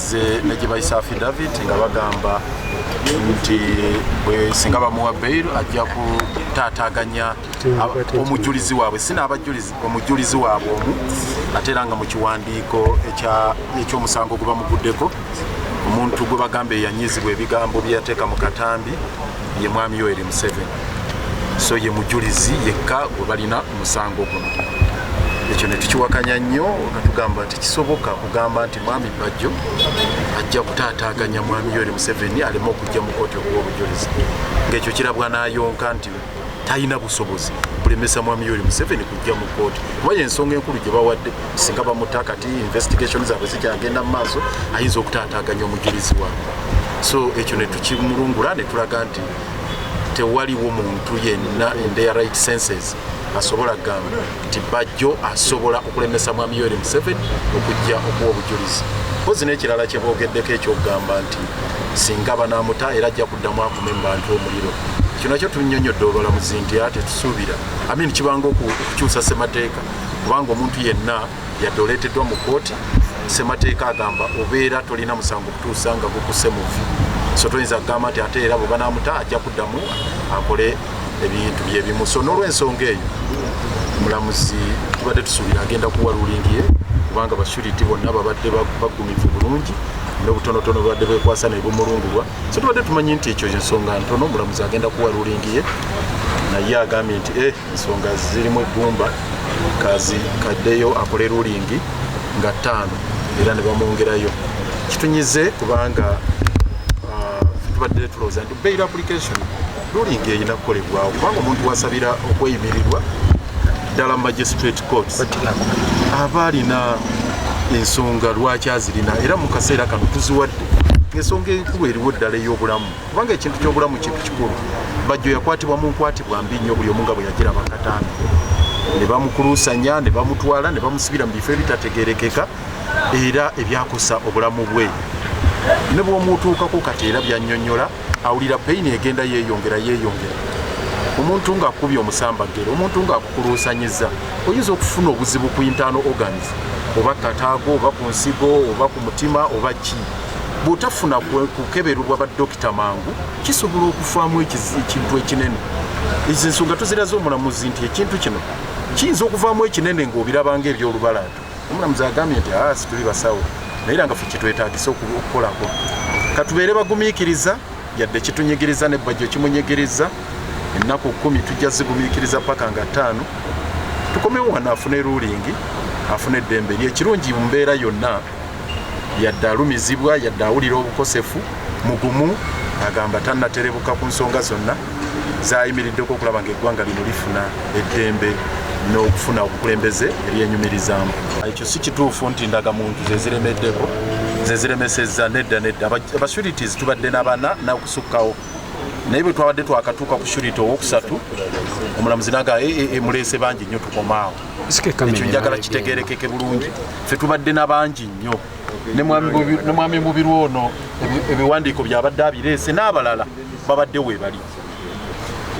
ze ne gyebayisa affidavit nga bagamba nti singa bamuwa bail ajja kutaataganya omujulizi waabwe sinaabajulizi omujulizi waabwe omu ate era nga mu kiwandiiko ekyomusango gwe bamuguddeko omuntu gwe bagamba eyanyizibwa ebigambo byeyateeka mu katambi ye mwami yoeri museven so ye mujulizi yekka gwe balina omusango guno ekyo ne tukiwakanya nnyo nga tugamba nti kisoboka kugamba nti Mwami Bajjo ajja kutaataaganya Mwami Yoweri Museveni aleme okujja mu kooti okuwa obujulizi ng'ekyo kirabwa n'ayonka nti talina busobozi bulemesa Mwami Yoweri Museveni kujja mu kooti kuba y'ensonga enkulu gye bawadde singa bamuta kati investigation zaabwe zikyagenda mu maaso ayinza okutaataaganya omujulizi waabwe so ekyo ne tukimulungula ne tulaga nti tewaliwo muntu yenna in their right senses asobola kugamba nti bajjo asobola okulemesa mwami yoweri museveni okujja okuwa obujulizi mpozi n'ekirala kye boogeddeko ekyokugamba nti singa banamuta era ajja kuddamu akume mu bantu omuliro kino kyo tunyonyodde obalamuzi nti a tetusuubira amin kibanga okukyusa ssemateeka kubanga omuntu yenna yadde oleeteddwa mu kkooti ssemateeka agamba obeera tolina musango okutuusa nga gukuse muvi so toyinza kugamba nti ate era bwe banamuta ajja kuddamu akole ebintu byebimu so nolwensonga eyo mulamuzi tubadde tusuubira agenda kuwa rulingi ye kubanga bashuriti bonna babadde bagumivu bulungi nobutonotono babadde bekwasa nebumulungulwa so tubadde tumanyi nti ekyo ensonga ntono mulamuzi agenda kuwa rulingi ye naye agambye nti e ensonga zirimu eggumba kazi kaddeyo akole rulingi nga ttaano era ne bamwongerayo kitunyize kubanga ah, tubadde tulowooza nti Bail application ruling erina kukolebwawo kubanga omuntu wasabira okweyimirirwa ddala magistrate courts aba alina ensonga lwaki azirina era mu kaseera kano tuziwadde ensonga enkulu eriwo ddala ey'obulamu kubanga ekintu ky'obulamu kintu kikulu bajjo yakwatibwa mu nkwatibwa mbi nnyo buli omu nga bwe yagira bakatano ne bamukuluusanya ne bamutwala ne bamusibira mu bifo ebitategerekeka era ebyakosa obulamu bwe ne bwomuutuukako kati era byanyonyola awulira peyini egenda yeyongera yeyongera omuntu ngaakubye omusambaggere omuntu ngaakukuluusanyiza oyinza okufuna obuzibu ku intaano organs oba kataago oba ku nsigo oba ku mutima oba ki bwotafuna kukebererwa badokita mangu kisobola okufaamu ekintu ekinene ezo ensonga tuziraza omulamuzi nti ekintu kino kiyinza okuvaamu ekinene ngaobirabanga ebyolubalaato Omulamuzi agambye nti aa ah, situli basawo naye era nga fe kyetwetagisa okukolako katubeere bagumiikiriza yadde kitunyigiriza nebbajjo kimunyigiriza ennaku kumi tujja zigumiikiriza paka nga ttaano tukomewo wano afune rulingi afune eddembe eri ekirungi mu mbeera yonna yadde alumizibwa yadde awulira obukosefu mugumu agamba tanaterebuka ku nsonga zonna zayimiriddeko okulaba nga eggwanga lino lifuna eddembe n'okufuna obukulembeze ebyenyumirizaamu ekyo si kituufu nti ndagamuntu zeziremeddeko zeziremeseza nedda nedda abasurities tubadde nabana nakusukkawo naye bwe twabadde twakatuuka ku surity owokusatu omulamuzi naga ee eh, eh, eh, muleese bangi nnyo tukomaawo ekyo njagala kitegerekeke bulungi fe tubadde na bangi nnyo ne mwami mubiru ono ebiwandiiko byabadde abireese n'abalala babadde weebali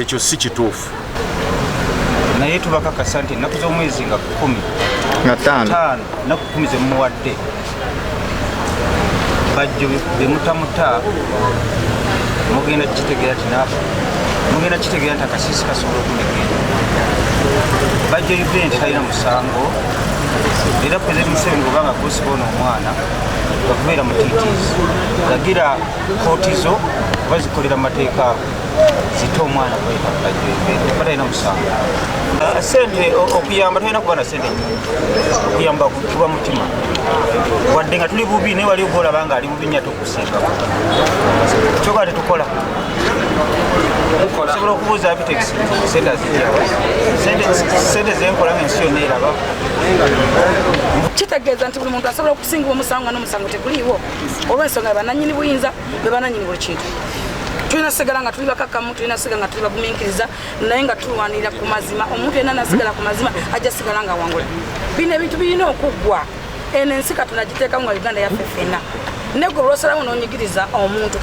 ekyo si kituufu naye tubakakasa nti ennaku z'omwezi nga kumi nataano naku kumi zemumuwadde bajjo bemutamuta mugenda kukitegeera tinaaba mugenda kukitegeera nti akasiisi kasobola okunegenda bajjo event talina musango era pulezidenti museveni bweba nga kusiba ono omwana okubeera mutitiizi lagira kooti zo oba zikolera mu mateeka ago zite omwana kwekakajwebata alina musango ah, sente okuyamba tolina kuba na sente okuyamba kuba mutima wadde nga tuli bubi naye wali oba olaba nga ali bubi nyato kyoka tetukola osobola okubuuza abitex sente azijawa sente zenkola nga ensi yonna eraba kitegeeza nti buli muntu asobola okusinga omusango nga n'omusango teguliiwo olw'ensonga bebananyini buyinza bebananyini buli kintu tulina sigala nga tuli bakakamu tulina sigala nga tuli bagumiikiriza naye nga tulwanirira ku mazima omuntu yenna nasigala ku mazima ajja sigala nga wangula bino ebintu birina okuggwa eno ensi katonda giteekamu nga uganda yaffe fenna negwe olwosalamu nonyigiriza omuntu